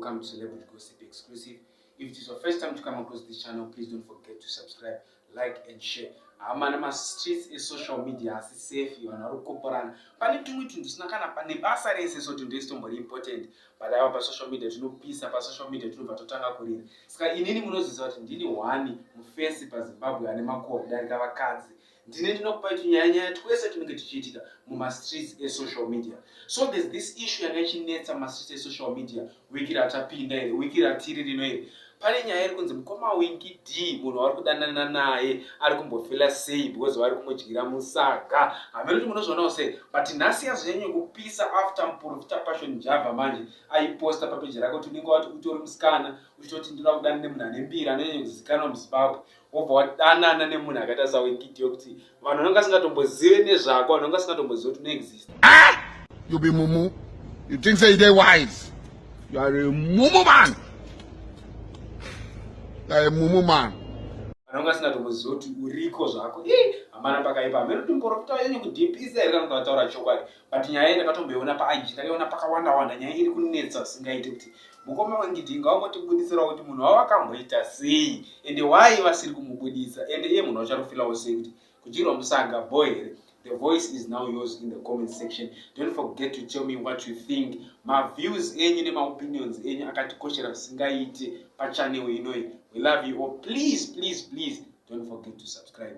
welcome to Celebrity Gossip Exclusive. If it is your first time to come across this channel, please don't forget to subscribe, like and share. Amana ma streets is social media asi safe vanhu vari kukoporana. Pane tumwe tunhu tusina kana pane basa rese so tunhu twese tumbori important. but ava pasocial media tinopisa pasocial media tinobva totanga kurira saka inini munoziziva kuti ndini hwani mufesi pazimbabwe ane makuwa kudarika vakadzi ndine ndinokupai tunyaya nyaya twese tunenge tuchiitika mumastreets esocial media so there's this issue yanga ichinetsa mastreets esocial media wiki ratapinda iri wiki ratiri rino iri pane nyaya iri kunzi mukoma winki d munhu waari kudanana naye ari kumbofila sei because vari kumudyira musaga hameno kuti munozvionawo sei but nhasi yazonyanye kupisa after muprofita passion java manje aiposta papeji rake kuti unenge wati utori musikana uchitoti ndinoda kudana nemunhu ane mbiri anonyanye kuzikanwa muzimbabwe wobva wadanana nemunhu akaita sawekiti yokuti vanhu vanonga asingatombozive nezvako vanhu vanga asingatombozive kuti unoexist ah! you be mumu you think say they wise you are a mumu man you are a mumu man vanhu vanga asingatombozive kuti uriko zvako hamana pakaipa hameno timborofita yenyu kudipisa here kana kuti vataura chokwadi but nyaya iyi ndakatomboiona paig ndakaiona pakawanda wanda nyaya iri kunetsa singaite kuti mukoma wengidi ngaungotibudisirawo kuti munhu wavo akamboita sei ende why vasiri kumubudisa ende iye munhu wacharufilawo sei kuti kudyirwa musanga bo here the voice is now yours in the comment section don't forget to tell me what you think maviews enyu nemaopinions enyu akatikoshera zvisingaite pachanel inoi we love you all please please please don't forget to subscribe